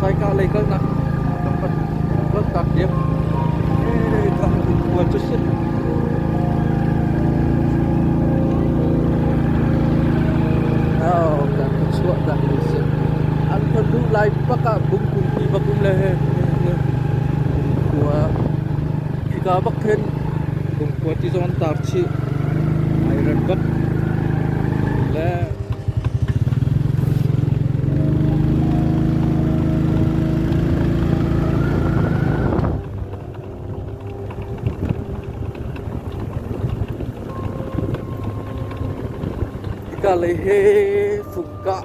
Saika lei kalnak kan van lanhtak diam. Hee tah cu khua cu si. Oh, kan ka chuah dah ni si. An kan luh lai bak ah bungkum ti bak um le khua hika bak khin bungkhua ti zong an tar chih. Ai ran bak. Le Hika lei he fung kah.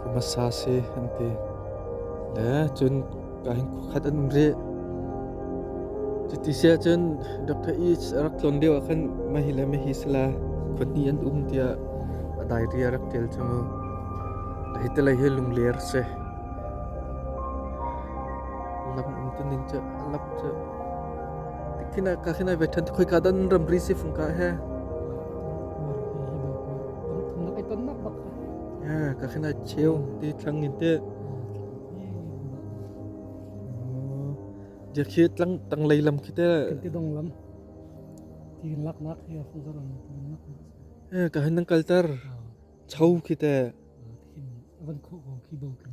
khumasa si an ti. Le cun ka hin khuakhat an um rih. Cuti siah cun Dr. East a rak tlon lio ah khan mahi le mahi sala khawhni an um tiah a diary a rak ṭial cu mu. La hi telai hi lungler si. Lam um tu ning cu a lap cu. Tikhin ka khin ai vethan khoi ka dan ramri si fung ka he. Ka khin a cheu ti thlang in teh. Dia khi tlang tang lei lam khi teh. Kan ti dong lam. Ti lak nak hi a fun zalam. Eh ka hin nang kaltar. Chau khi teh. Van khu ko khi bo kan.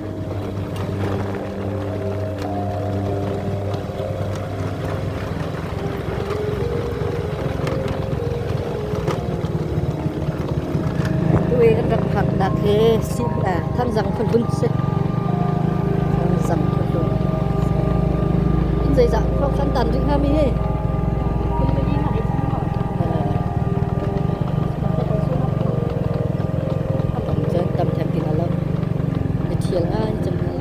Tui kan rak phak nak hi si ah thanzang phulun si. Thanzang phulun. In zeizah khok kan tan ring hami hi. Tam ten tin alak. Na thial ah an cam lai.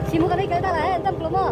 Simu ka lei kal bak ah an cam kilo maw?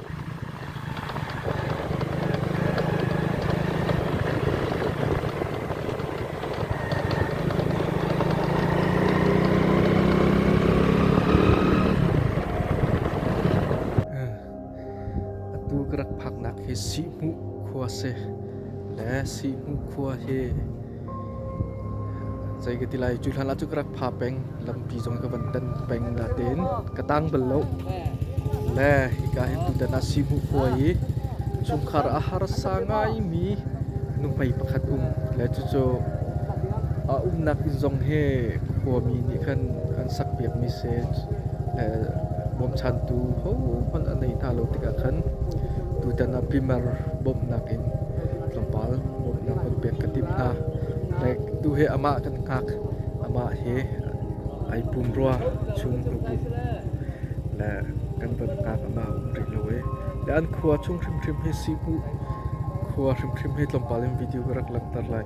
Atu ka rak phaknak hi Sihhmuh khua si le Sihhmuh khua hi Zei ka ti lai, cu hlan ah cu ka rak pha peng. Lampi zong ka van tan peng na tein ka tang bal lo. Le hika hin tutan ah Simu khua i chungkhar a harsa ngaimi nuhmei pakhat um. Le cucu a umnak inn zong he khuami nih khan an sak piakmi se bawmchantu hohmanh a nei hna lo tikah khan tutan ah Primer bawmhnak in tlawmpal Lam kan pek ka timh hna. Like, tu hi amah kan hngak. Amah hi ai pumrua chung rupum le kan van hngak amah um rih lo i le an khua chung hrimhrim hi si hmuh khua hrimhrim hi tlawmpal in video ka rak langhter lai.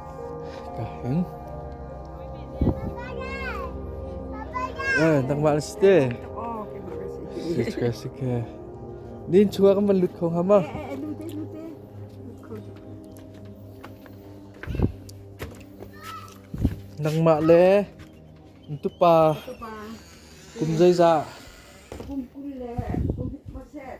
Ka heng. Oi, nangmah na si te. Suka suka. Nin chua kan van lut kho hama. Nangmah le ntupa kum zai za. Kum kum le kum hit ma set.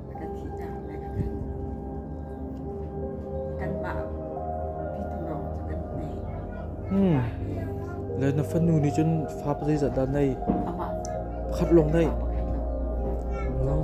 Le na fanu nih cun fa pa zeizat dah nei? Pakhat lawng nei? No.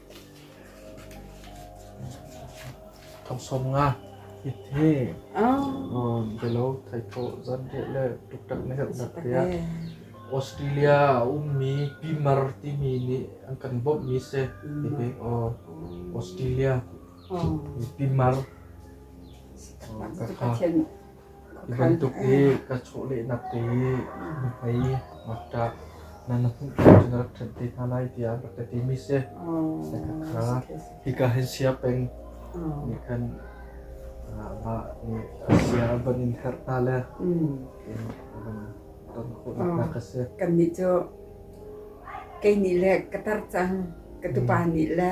Thong sawm nga it hi belo thaithawh zanriah le tuktak na herh nak tiah Australia a ummi pimar timi nih an kan bawmhmi si. Hi pek aw Australia pimar kakha Ka hawi tuk i ka chawhlehnak te i nuhmei ngakṭah hna na hmuh ṭung cun rak ṭhenh te hna lai tiah rak ka timi si. Khakha hika hin sia peng nih khan mah nih sia van in herh hna le in van ton khawhnak hna ka si. Kannih cu kei nih le ka tar cang, ka tupa nih le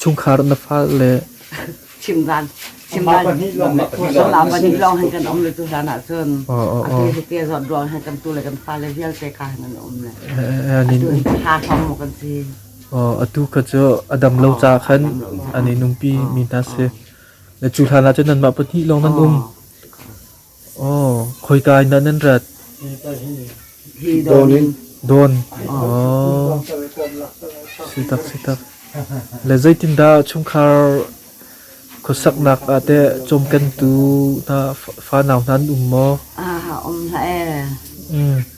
Chungkhar na fale Chimdan Suala pahnih lawng hin kan um le tu hlan ah cun atu hi te zawt ruang hin kan tu le kan fale vialte ka hin an um le ha hom mu kan si atu ka cu a dam lo ca khan an i nungpi mi hna si na cu hlan ah cun nanmah pahnih lawng nan um Khoika in dah nan rat? Dawn. Sitak sitak. Le zeitindah chungkhar khuasaknak ah teh cawmkentu hna fanau hna an um maw? A um hlah ee.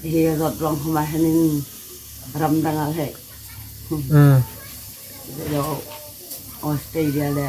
Hi rat long hma henin ramdang ah he. Australia le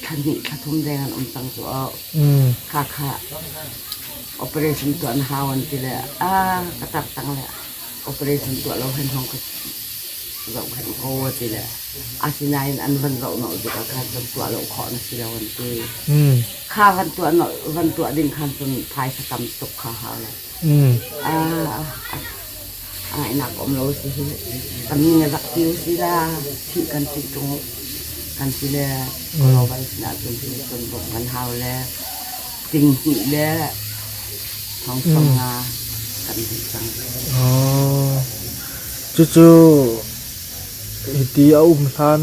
thla hnih thla thum deng an um cang cu oh. Mm. Hakha operation tuah na hau an ti le a ka tak tang le operation tuah lo hen hong ka zoh hen ko a ti le asinain an van zoh no dik ah khan cun tuah lo khawh na si lo an ti. Mm. Kha van tuah no van tuah ding khan cun phaisa tam tuk kha hau lo. Ainak um lo si hi. Kami na rak kil si la, thih kan ti tung kan ti le global sinah cun hi cun buk kan hau le ting hnih le thongsom nga kan hmuh cang. Cucu hiti a um hlan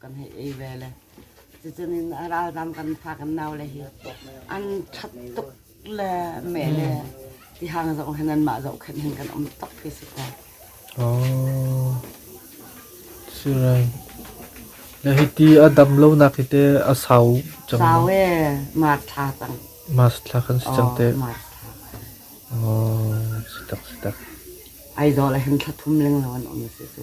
kan hei ei ve le cucun in a ralzam kan fa kan nau le hi an ṭhat tuk le meh le tihang zong hin anmah zoh khan hin kan um tuk ti si ko. Oh. Sirai. Na hiti a dam lonak hi te a sau cang. Sau e mar thla cang. Mas thla kan si cang te. Mar thla. Oh, si tak si tak. Ai zo le hin thlathum leng lo an um si cu.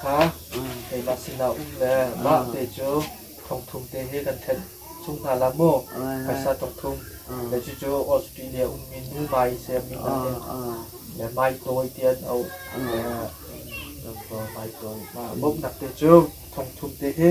kha keimah sinah um le mah te cu thongthum te he kan ṭhenh chung hna la maw phaisa thongthum le cucu Australia ummi nu Mai siangmi hna nih le Mai tawi ti an auh Mai tawi bawmhnak te cu thongthum te he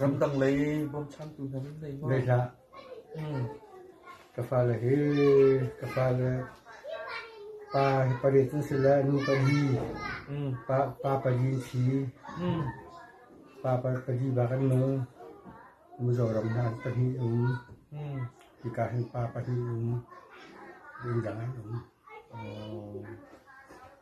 Ramdang lei bawmchantu hna nan ngei maw? Ngei hlah. Ka fale hi ka fale pa hi pariat an si le nu pali. Pa, pa pali an si. Pa pa- pali bak an nung. Mizoram hna an pahnih um. Hika hin pa pahnih um. Ding dang an um.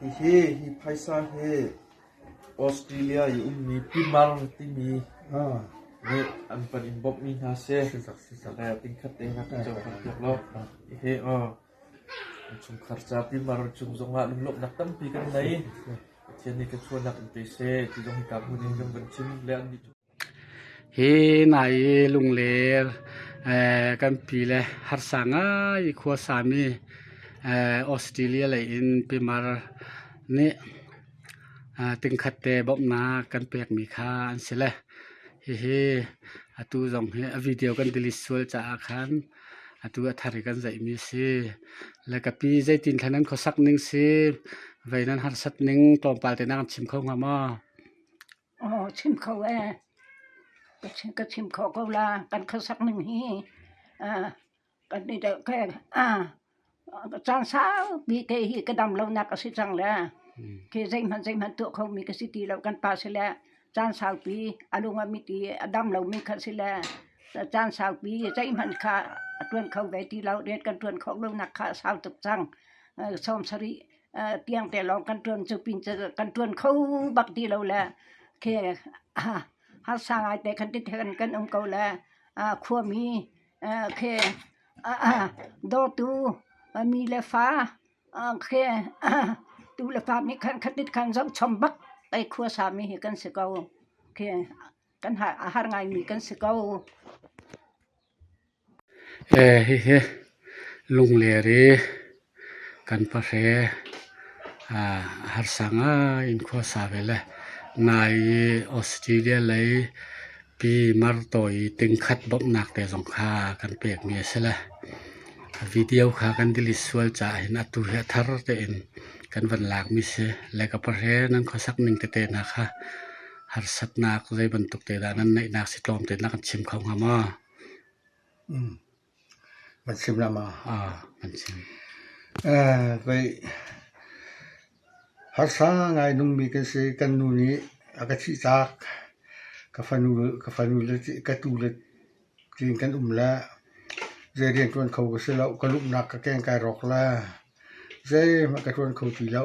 Hihi hi phaisa hi Australia i ummi timar timi nih an panh in bawmhmi hna si. Tingkhat te in a kan cohlan piak lo. Hihi an chungkhar ca timar cung zongah lunglawmhnak tampi kan nei. Pathian nih thluachuahnak in pe seh ti zong hika hmun in kan van chim le an nih cu Hi nai i lungler kan pi le harsa ngai i khua sami Australia lei in pimar nih tingkhat te bawmhnak kan pekmi kha an si le hihi atu zong hi a video kan delete sual caah khan atu a thar hi kan zeihmi a si. Le ka pi zeitin thlen nan khuasak ning si, vei nan harsat ning tlawmpal te na kan chim kho hnga maw? Aw chim kho ee. Ka chim khawh ko la. Kan khuasak ning hi aa kan i deuh ke aa caan saupi te hi ka dam lonak a si cang le khi zeihmanh zeihmanh tuah khomi ka si ti lo. Kan pa si le caan saupi a lung a mit i a dam lomi kha si le caan saupi zeihmanh kha a ṭuan kho ve ti lo. Rian kan ṭuan khawh lonak kha a sau tuk cang. Sawm sarih tiang te lawng kan tuan cu pin cu kan tuan kho bak ti lo le khi harsa ngai te khan ti than kan um ko le khuami khi dawtu mi le fa khi tu le pa mi khan khatit khan zong chom bak ei khua sa mi hi kan si ko khi kan har ngai mi kan si ko Hihi lungler i kan pahre a harsa ngai in khuasa ve le nai i Australia lei pi mar tawi tingkhat bawmhnak te zong kha kan pekmi a si le video kha kan delete sual caah hin atu hi a thar tein kan van lakmi si. Le ka pahre nan khuasak ning tete hna kha harsatnak zei bantuk te dah nan neihnak si tlawm te na kan chim kho hnga maw? Kan ram ah an chim. Harsa ngai nungmi kan si. Kan nu nih a ka thih taak. Ka tu le tiin kan um le zei riantuan kho ka si lo. Ka lumnak ka keng kai rawk le zeihmanh ka tuan kho ti lo.